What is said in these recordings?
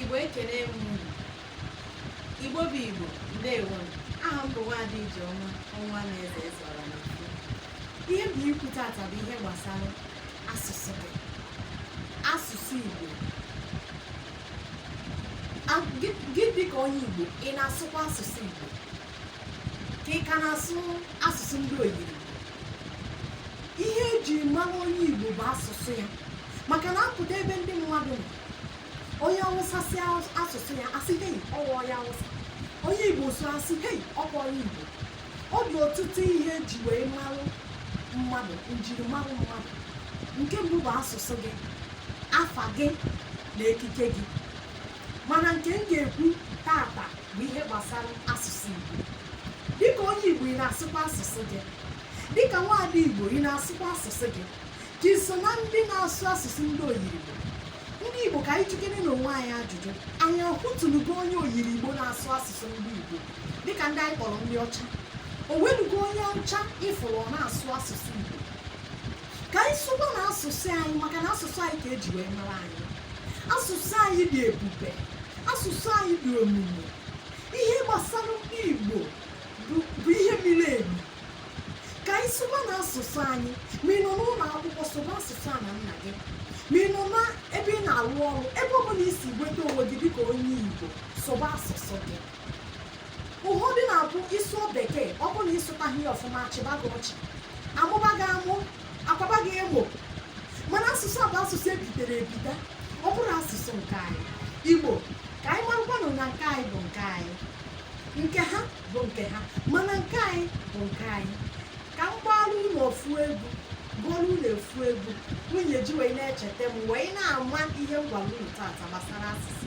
Igbo ekele m unu. Igbo bụ Igbo, ndewo. Aha m bụ Nwaada Ijeọma ọnwa na eze eze ọra na mfe. Ihe m bịa ikwu tata bụ ihe gbasara asụsụ gị. Asụsụ Igbo. Gị dịka onye Igbo, ị na-asụkwa asụsụ Igbo? ka ị ka na-asụ asụsụ ndị oyiri ihe eji mara onye igbo bụ asụsụ ya maka na a pụta ebe ndị mmadụ nọ onye awụsa sụọ asụsụ ya asị hei ọkwa onye awụsa onye igbo sụọ asị hei ọkwa onye igbo ọ dị ọtụtụ ihe eji wee marụ mmadụ njirimara mmadụ nke mbụ bụ asụsụ gị afa gị na ekike gị mana nke m ga-ekwu tata bụ ihe gbasara asụsụ Igbo dịka onye Igbo ị na-asụkwa asụsụ gị dịka nwaada Igbo ị na-asụkwa asụsụ gị ka i so na ndị na-asụ asụsụ ndị oyirigbo ndị Igbo ka anyị jụkenenụ onwe anyị ajụjụ anyị ahụtụnugo onye oyiri Igbo na-asụ asụsụ ndị Igbo dịka ndị anyị kpọrọ ndị ọcha o nwenugo onye ọcha ị fụrụ ọ na-asụ asụsụ Igbo ka anyị sụbanụ asụsụ anyị maka na asụsụ anyị ka eji wee mara anyị asụsụ anyị dị ebube asụsụ anyị dị omimi ihe gbasara ndị Igbo bụ ihe miri emi ka anyị sụbanụ asụsụ anyị ma ị nọ n'ụlọ akwụkwọ sụba asụsụ ana nna gị ma ị nọ n'ebe ị na-arụ ọrụ ebe ọ bụla i si nweta onwe gị dịka onye Igbo sụba asụsụ gị ụfọdụ na-abụ ị sụọ bekee ọ bụ na ị sụtaghị ya ọfụma achịba gị ọchị amụba gị amụ akwaba gị emo mana asụsụ a bụ asụsụ e bitere ebite ọ bụrọ asụsụ nke anyị igbo ka anyị marakwanụ na nke anyị bụ nke anyị nke ha bụ nke ha mana nke anyị bụ nke anyị ka m gbaara unu ofu egwu gụọrọ unu ofu egwu unu ya-eji wee na-echeta m wee na-ama ihe m gwara unu tata gbasara asụsụ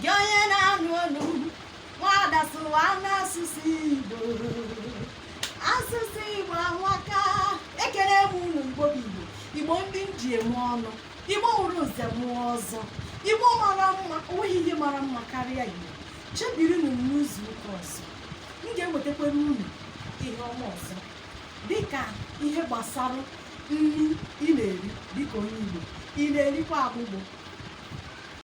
gị onye na-anụ olu m nwaada sụwanụ asụsụ igbo asụsụ igbo amaka ekele m unu igbo bụ igbo igbo ndị m ji eme ọnụ igbo mụrụ nze mụọ ọzọ igbo mara mma o nweghị ihe mara mma karịa igbo chebirinụ m n'izu ụka ọzọ m ga-ewetakwara unu ihe ọma ọzọ dịka ihe gbasara nri ị na-eri dịka onye igbo ị na-erikwa agbụgbọ